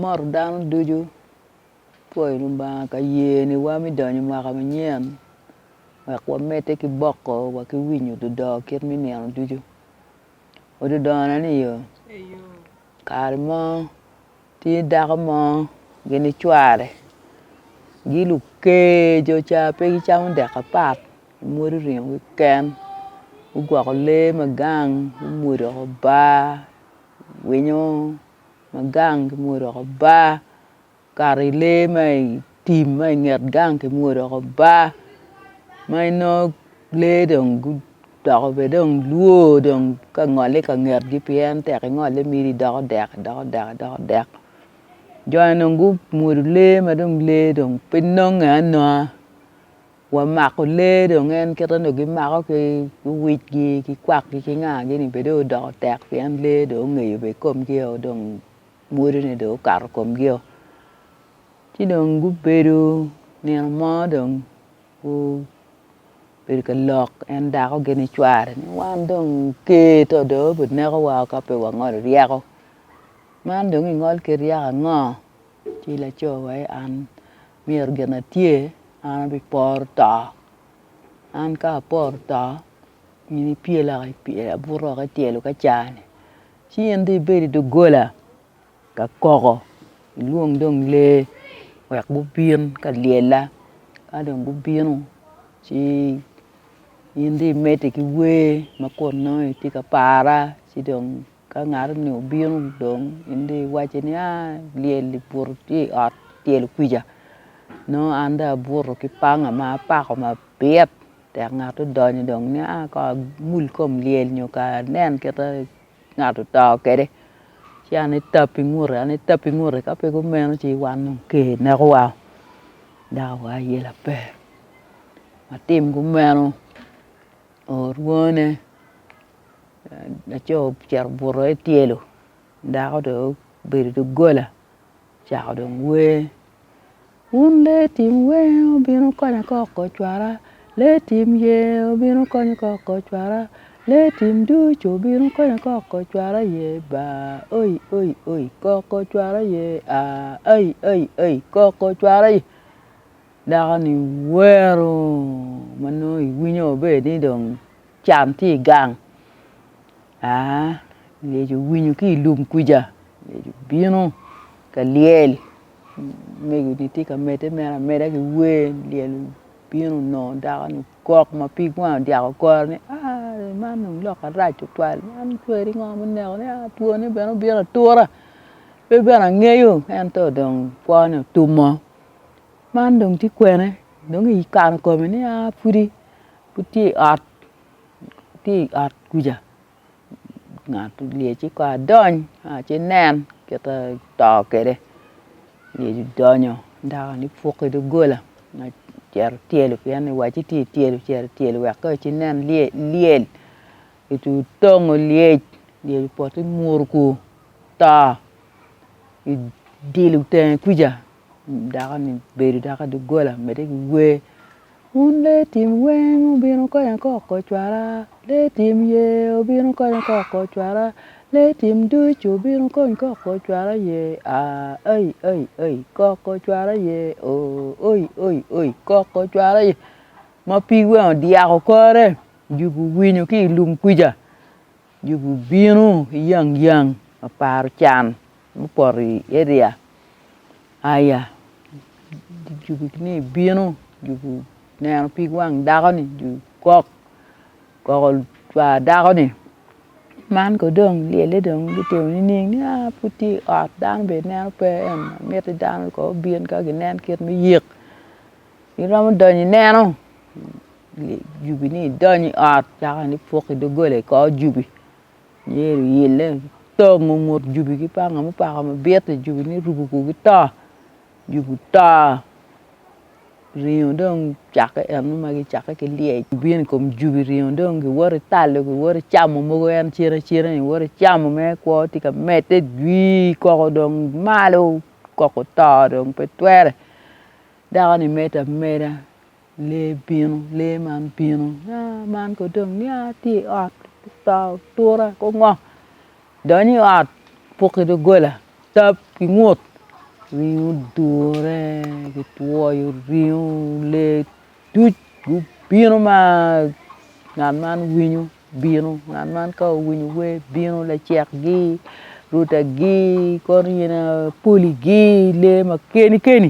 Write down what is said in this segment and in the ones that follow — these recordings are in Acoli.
mot dano ducu pwoyo Lubanga ka yeniwa me donyo i mwaka manyen wek wamedde ki boko wa ki winyo dudoo kit me nino ducu. Odudona ni oo kare mo tye dako mo gin ni cware gi lukeco ca pe gicamo dek apat gimwodo ringo gi ken gugwoko lee ma gang gumwodo bar Winyo ma gang ki mwod dok obar, okato i lee ma i tim ma i nget gang ki mwod dok obar ma inongo lee dong gudoko bene dong lwo dong ka ngole ka ngetgi pien tek ingole miti idoko dek idoko dek idoko dek joni dong gumwodo lee ma dong lee dong pe nonge anonga. Wamako lee dong en kit ma gimako ki wicgi ki kwakgi ki nga gi ni bene dong odoko tek pien lee dong ongeyo bene komgi dong mwodone dong okato komgi o ci dong gubedo nino mo dong gubedo ka lok en dako gini cware ni wan dong ker to dong obi nekowa ka pe wangolo ryeko man dong ingol kit ryeko ango Ci laco wa aye an myero gin atye an abiporo to. An ka aporo to, in ipyela ka ipyela abuto woko ityelo ka caa-ni ci in dong ibed i doggola ka koko ilwong dong lee wek gubin ka lyella ka dong gubino ci in dong imedde ki wer ma kun nongo itye ka para ci dong Ka ngat-ni obino dong, in dong iwacce ni, 'A, lyel ibuto ki i ot tyelo kwija. Nongo an dong abuto ki panga ma apako mabit. Tek ngat odonyo dong ni, 'A kong amul kom lyel nyo kong anen kit ma ngat oto kwede. Ci an ni tap i ngute, an ni tap i ngute. Ka pe kumeno ci wan dong ker nekowa, dako wa aye laper. Watim kumeno. Orwone, laco ocito obuto i tyelo, dako dong obedo i doggola ocako dong wer, wun lee tim wer wubin wukonya ka okocwara, lee tim ye wubin wukonya ka okocwara, lee tim ducu wubin wukonya ka okocwara ye baa oi oi oi ka okocwara ye aa ai ai ai ka okocwara ye. Dako ni wero ma nongo i winyo maber ni dong can tye i gang aa myero ki winyo ki i lum kwica myero ki bino ka lyel mego ni tye ka medde mere ameda ki wer lyel obino nongo dako ni ogok ma pig wange odyako kore ni aa wer man dong lok arac tutwal man tweri ngo ma oneko ni aa two ne bene obino atura pe bene angeyo ento dong kwo ne otum oo. Man dong tye kwene dong ikano kome ni a pwodi pud tye i ot tye i ot kwija ngat olye ci kong adony ci nen kit ma to kwede olye ci donyo dakoni puk i doggola nyo ocito tyelo pien ni owaci tye i tyelo ocito tyelo wek kony ci nen lyel ocucur otong olyec olyec opoto i muru ku oto odilo tenge kwija. dako ni bedo dok i doggola medde ki wer wun lee tim weng wubino konya kok kocwara lee tim ye wubino konya kok kocwara lee tim ducu wubino kony kok kocwara ye aa ai ai ai kok kocwara ye oo oi oi oi kok kocwara ye ma pig weng odyako kore jubi owinyo ki i lum kwica Yugi obino yang yang aparo can mupoto i area aya yugi ni bino yugi oneno pig wang dako ni yugi kok koko cwa dako ni man kono dong lyelle dong gitimo nining ni aa pud tye i ot dano bene neno pe ento miti dano kono gubin ka ginen kit me yik. Iromo donyo ineno jubi ni idonyo i ot caka ni puk i dogola i kor jubi myero iyille tongo ngut jubi ki panga mupako mabit-ti jubi ni orubu kor gito jubi oto ringo dong cakke en mo ma gicakke ki lyec bino i kom jubi ringo dong giwoto italo giwoto icamo mogo en cen acena ni iwoto icamo ma i kwo tye ka medde jwii koko dong malo koko oto dong pe twere Dako-ni medde ameda, lee bino, lee man bino nia man kono dong nia tye i ot kicito atura ki ongo donyo i ot puk ki doggola tap ki ngut ringo odure kitwoyo ringo lee duc gubino ma ngat man winyo. Bino, ngat man ka owinyo wer bino, lacekgi, rutagi, kor yen poligi, lee ma keni keni,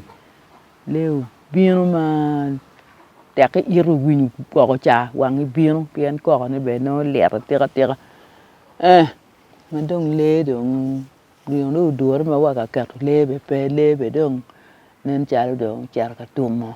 lee obino ma tekki ito winyo koko ca wangi bino pien koko ne bene nongo lit atika tika eh ma dong lee dong gin dong odure ma waka keto lee bene pe, lee bene dong nen calo dong ocito ka tum oo.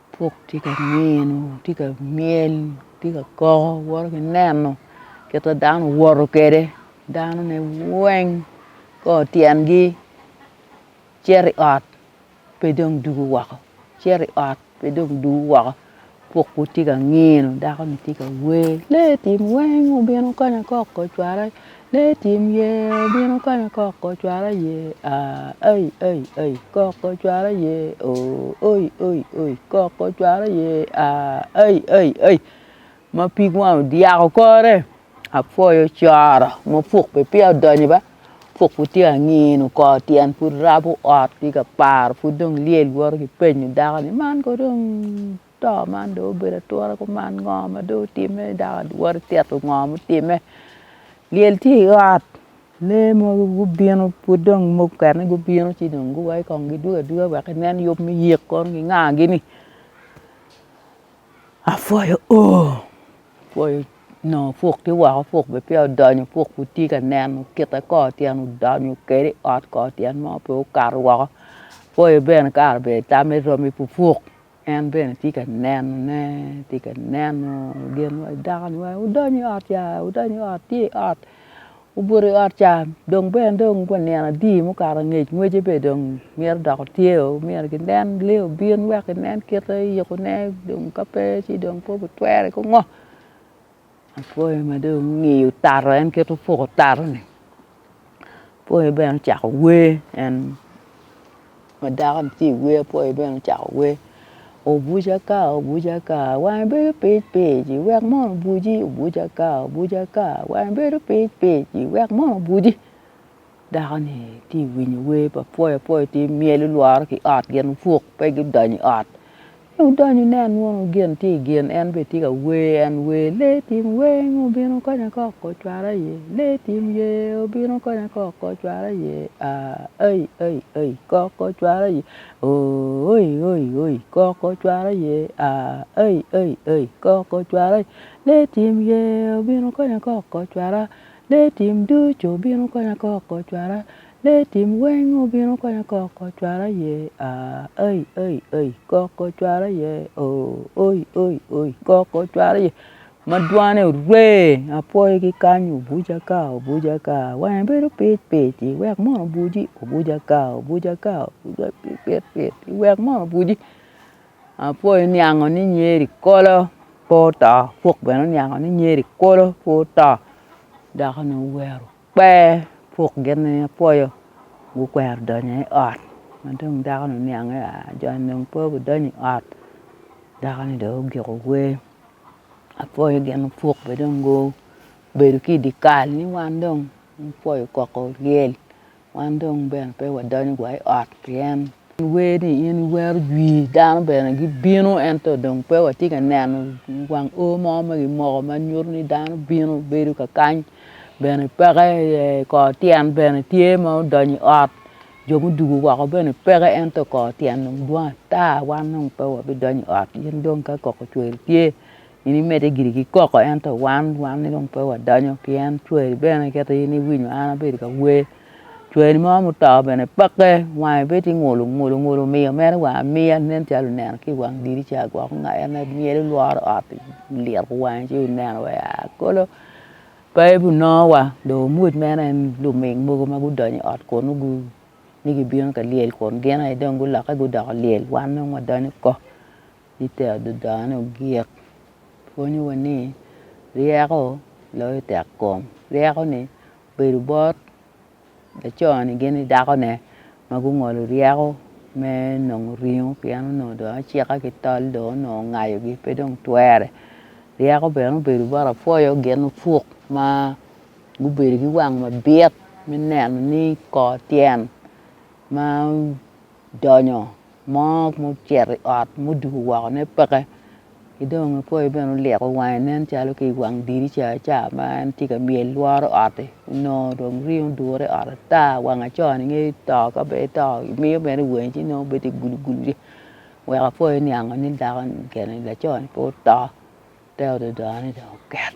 Puk tye ka nino, tye ka myel, tye ka koko woto ki neno kit ma dano owoto kwede danone weng kor tyengi cito i ot pe dong dwogo woko cito i ot pe dong dwogo woko puk pud tye ka nino dakoni tye ka wer lee tim weng obino kanya koko ocwale Lee tim yee obino kanya kok ocwalo aye aah ai ai ai kok ocwalo aye ooh oi oi oi kok ocwalo aye aah ai ai ai ma pig wang odyako kore apwoyo coro ma puk pi peya odonyo ba puk pi tye angino kor tyen pud rabo ot ki ka paro pud dong lyel woto ki penyo dako ni man kodong to man dong obedo ature kuman ngo ma dong otime dako adwari tito ngo ma otime lyel tye i ot lee mogo gubino pud dong mukene gubino ci dong giwa i kong gidwogo adwoga wek ginen yub me yik kono gingagi ni apwoyo oo apwoyo onongo puk tye woko puk bene peya odonyo puk pud tye ka nen kite kor tyen odonyo kede i ot kor tyen mo pe okato woko apwoyo bene kare bene tame romi pupuk. En bene tye ka nenone, tye ka neno gin ma dakoni waci wudony i ot ca, wudony i ot, tye i ot, obuto i ot ca, dong bene dong pa nino adi mukato angec ngwece bene dong mito dok otyeo, myero ginen lee obin wek ginen kite yikone dong ka pe ci dong pe obitwere ki ngo. Apwoyo ma dong ongiyo tato en kit opuko tato ni apwoyo bene ocako wer en ma dako ni tye iwer apwoyo bene ocako wer obuca ka obuca ka wange bedo pic pic wek mono obuci obuca ka obuca ka wange bedo pic pic wek mono obuci. Dako-ni tye ka winyo wer pa pwoyo apwoya tye ka myel olwore ki ot gin opuk pe gudonyo i ot ci odonyo onen mono gin tye i gin en bene tye ka wer en wer lee tim weng obino konya kok ocwara iye lee tim yee obino konya kok ocwara iye aa ai ai ai kok ocwara iye ooh oi oi oi kok ocwara iye aa ai ai ai kok ocwara iye lee tim yee obino konya kok ocwara. Lee tim ducu obino konya kok ko cwara Lee tim weng obino konya kok ko cwara yee aah Ai ai ai kok ko cwara yee ooh Oi oi oi kok ko cwara yee ma dwane orwe apwoyo ki kany obuca ka obuca ka wange bedo pic pic iwek mono obuci obuca ka obuca ka pit pit iwek mono obuci. Apol oniango ni Nyeri kolo pe oto, Apok bene oniango ni Nyeri kolo pe oto dako-ni owero kper Apok gin ni apwoyo gukwero donyo i ot ma dong dako-ni oniange a jo-ni dong pe gudonyo i ot dako-ni dong ogiko wer apwoyo gin ma Apok bene dong gubedo ki i dye kal ni wan dong wapwoyo koko lyel. wan dong bene pe wadonyo wa i ot pi en. En wer ni in iwero jwi dano bene gibino ento dong pe watye ka neno wang o mo ma kimoko ma nyuto ni dano bino bedo ka kany bene peke aye kor tyen bene tye ma odonyo i ot jo mudugo woko bene peke ento kor tyen dong dwong ata wan dong pe wabidonyo i ot in dong ka koko cwer tye In imedde giri ki koko ento wan wanni dong pe wadonyo pien cwari bene kit ma in iwinyo an abedo ka wer cwari mo ma oto bene peke wange bene tye ngulu ngulu ngulu miyo mere wa amiya nen calo oneno ki i wang dirica gwoko nga en aye myel lworo ot-ti oliro wange ci oneno wa aa kolo pe gunongo wa dong omuc mere en luming mogo ma gudonyo i ot kunu ni gibino ka lyel kun gin aye dong gulokke gudoko lyel wan dong wadonyo oko. I te adadane, ogik pwonyowa ni ryeko loyo tekkom. Ryeko-ni obedo bot laco-ni gin ki dakone ma gungolo ryeko me nongo ringo pien onongo dong acika ki tol dong onongo ongayogi pe dong twere. Ryeko bene obedo bot apwoyo gin opuk ma gubedo ki wang mabit me neno ni kor tyen ma odonyo. Mo mucito i ot muduku wokone peke ki dong apoyo bene olyeko wange nen calo ki i wang dirica ca ma en tye ka myel lworo ot-ti onongo dong rii odure i ot ata wang acoo-ni nge to ka be eto imiyo bene wangi ci nongo bedo gulu gulu ci weko apoyo oniango ni dako-ni kene lacoo-ni pe oto te ododone dong oket